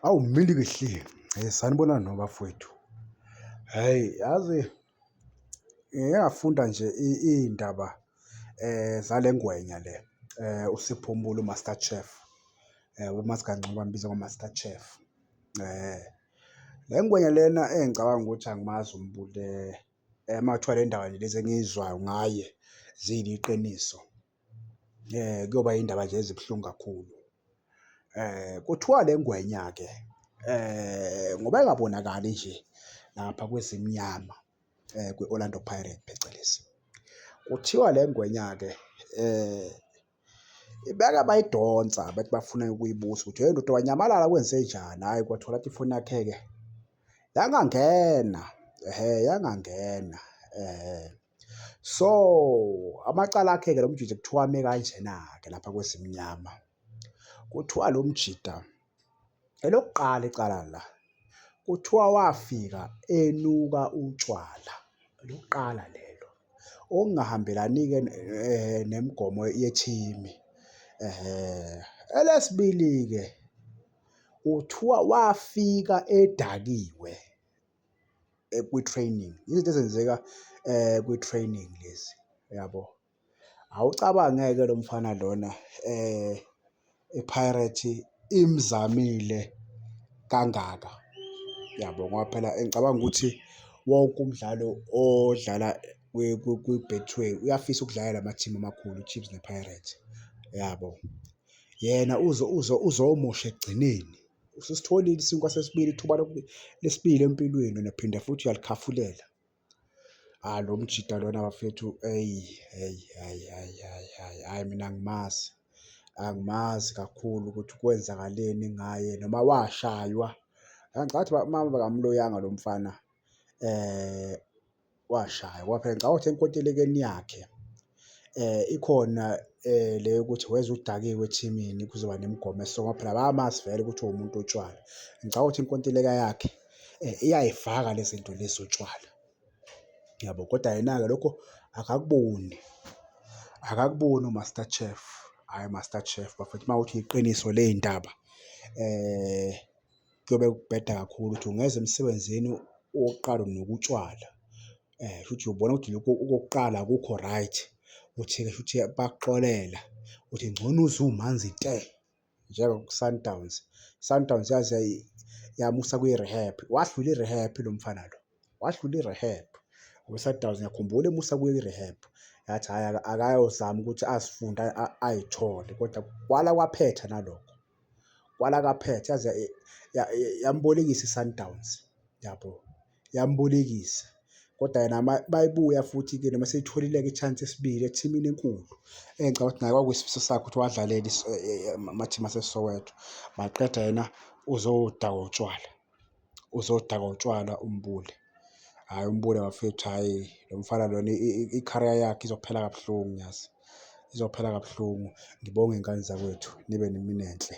Awu mili kihle. Eh sanibona no bafowethu. Hey yazi ngiyafunda nje iy'ndaba eh zalengwenya le eh uSipho Mbulu Master Chef eh uMazi Kangcobo ambiza ngoMaster Chef eh le ngwenya lena engicabanga ukuthi angimazi uMbulu eh makuthiwa le ndawo nje lezi engiyizwayo ngaye ziyiliqiniso. Kuyoba iy'ndaba nje ezibuhlungu kakhulu. Kuthiwa le ngwenya-ke ngoba ingabonakali nje lapha kweZimnyama kwi-Orlando Pirates phecelezi, kuthiwa le ngwenya-ke ibeke bayidonsa bethi bafuna ukuyibusa ukuthi hheyi ndoda wanyamalala kwenzenjani, hhayi kwathola ukuthi ifoni yakhe-ke yangangena, yangangena . So amacala akhe-ke lo mjita kuthiwa ame kanjena-ke lapha kwesimnyama. Kuthiwa lo mjita elokuqala icala la kuthiwa wafika enuka utshwala lokuqala lelo okungahambelani-ke eh, nemigomo yethimi. Eh, elesibili-ke uthiwa wafika edakiwe kwi-training, izinto ezenzeka kwi-training lezi yabo. Awucabange-ke lo mfana lona iPirates imzamile kangaka yabo ngoba phela ngicabanga ukuthi wonke umdlalo odlala kwi-Betway uyafisa ukudlala la mathimu amakhulu, iChiefs nePirates yabo. Yena uzomosha ekugcineni Usisitholile isinkwa sesibili, ithuba lesibili empilweni wena phinda futhi uyalikhafulela. Hhayi lo mjita lona bafethu eyi, hhayi, hhayi, hhayi, hhayi, hhayi, hhayi mina angimazi. Angimazi kakhulu ukuthi kwenzakaleni ngaye noma washaywa. Ngicabanga ukuthi mama akamloyanga lo mfana . Washaya waphela ngicabanga ukuthi enkontilekeni yakhe ikhona le yokuthi weza udakiwe ethimini kuzoba nemigomo esonga phela bayamazi vele ukuthi uwumuntu otshwala. Ngicabanga ukuthi inkontileka yakhe iyayifaka le zinto lezi zotshwala, yabo? Kodwa yena-ke lokho akakuboni, akakuboni uMaster Chef, hhayi uMaster Chef bafethu uma kuwukuthi yiqiniso ley'ndaba . kuyobe kubheda kakhulu ukuthi ungeza emsebenzini uyoqala nokutshwala shuthi ubona ukuthi lokhu okokuqala akukho right, uthi-ke shuthi bayakuxolela uthi ngcono uze umanzi te njengaku-Sundowns. I-Sundowns yaze yamusa kwi-rehab, wadlula i-rehab lo mfana lo, wadlula i-rehab kwi-Sundowns ngiyakhumbula emusa kwi-rehab yathi hhayi akayozama ukuthi azifunde ayithole kodwa kwala kwaphetha nalokho. kwala kaphetha yaze yambolekisa iSundowns yabo, yambolekisa kodwa yena mayebuya futhi-ke noma eseyitholile-ke i-chance yesibili ethimini enkulu engicabanga ukuthi naye kwakuyisifiso sakhe ukuthi wadlalela amathimu aseSoweto, maqeda yena uzodakwa utshwala. uzodakwa utshwala umbule. Hhayi umbule bafethu hhayi lo mfana lona i-career yakhe izophela kabuhlungu yazi, izophela kabuhlungu. Ngibonge ngane zakwethu, nibe nemini enhle.